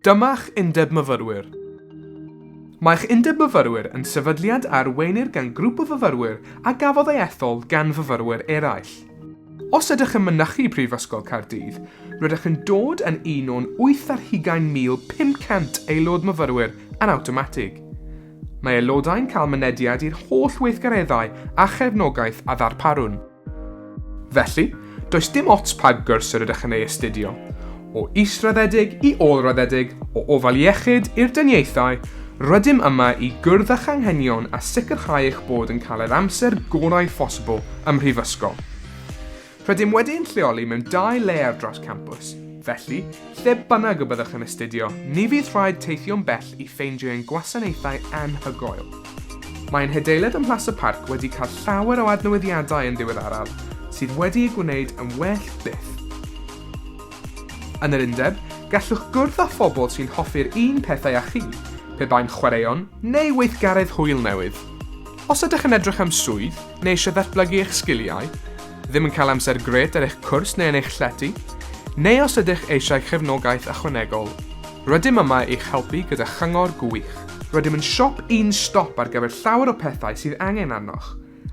Dyma'ch Undeb Myfyrwyr. Mae'ch Undeb Myfyrwyr yn sefydliad a arweinir gan grŵp o fyfyrwyr a gafodd ei ethol gan fyfyrwyr eraill. Os ydych yn mynychu Prifysgol Caerdydd, rydych yn dod yn un o'n wyth ar hugain mil pum cant Aelod Myfyrwyr yn awtomatig. Mae aelodau'n cael mynediad i'r holl weithgareddau a chefnogaeth a ddarparwn. Felly, does dim ots pa gwrs yr ydych yn ei astudio, o israddedig i ôl-raddedig, o ofal iechyd i'r dyniaethau, rydym yma i gwrdd â'ch anghenion a sicrhau eich bod yn cael yr amser gorau phosibl ym Mhrifysgol. Rydym wedi ein lleoli mewn dau le ar draws campws, felly, lle bynnag y byddwch yn astudio, ni fydd rhaid teithio'n bell i ffeindio ein gwasanaethau anhygoel. Mae ein hadeilad ym Mhlas y Parc wedi cael llawer o adnewyddiadau yn ddiweddaraf sydd wedi ei gwneud yn well byth. Yn yr undeb, gallwch gwrdd â phobl sy'n hoffi'r un pethau â chi, pe bai'n chwaraeon neu weithgaredd hwyl newydd. Os ydych yn edrych am swydd neu eisiau datblygu eich sgiliau, ddim yn cael amser grêt ar eich cwrs neu yn eich llety, neu os ydych eisiau cefnogaeth ychwanegol, Rydym yma i'ch helpu gyda chyngor gwych. Rydym yn siop un stop ar gyfer llawer o pethau sydd angen arnoch,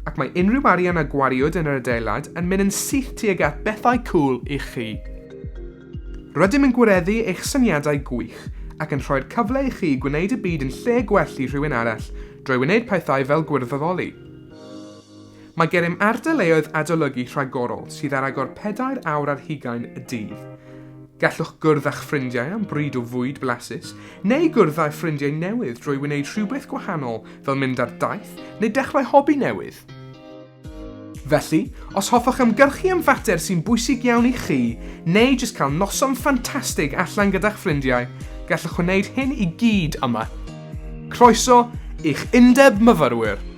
ac mae unrhyw arian a gwariwyd yn yr adeilad yn mynd yn syth tuag at bethau cŵl i chi. Rydym yn gwireddu eich syniadau gwych ac yn rhoi'r cyfle i chi gwneud y byd yn lle gwell i rhywun arall drwy wneud pethau fel gwirfoddoli. Mae gennym ardaleoedd adolygu rhagorol sydd ar agor pedair awr ar hugain y dydd. Gallwch gwrdd â'ch ffrindiau am bryd o fwyd blasus, neu gwrdd â'u ffrindiau newydd drwy wneud rhywbeth gwahanol fel mynd ar daith neu dechrau hobi newydd. Felly, os hoffech ymgyrchu am fater sy'n bwysig iawn i chi, neu jyst cael noson ffantastig allan gyda'ch ffrindiau, gallwch wneud hyn i gyd yma. Croeso i'ch Undeb Myfyrwyr!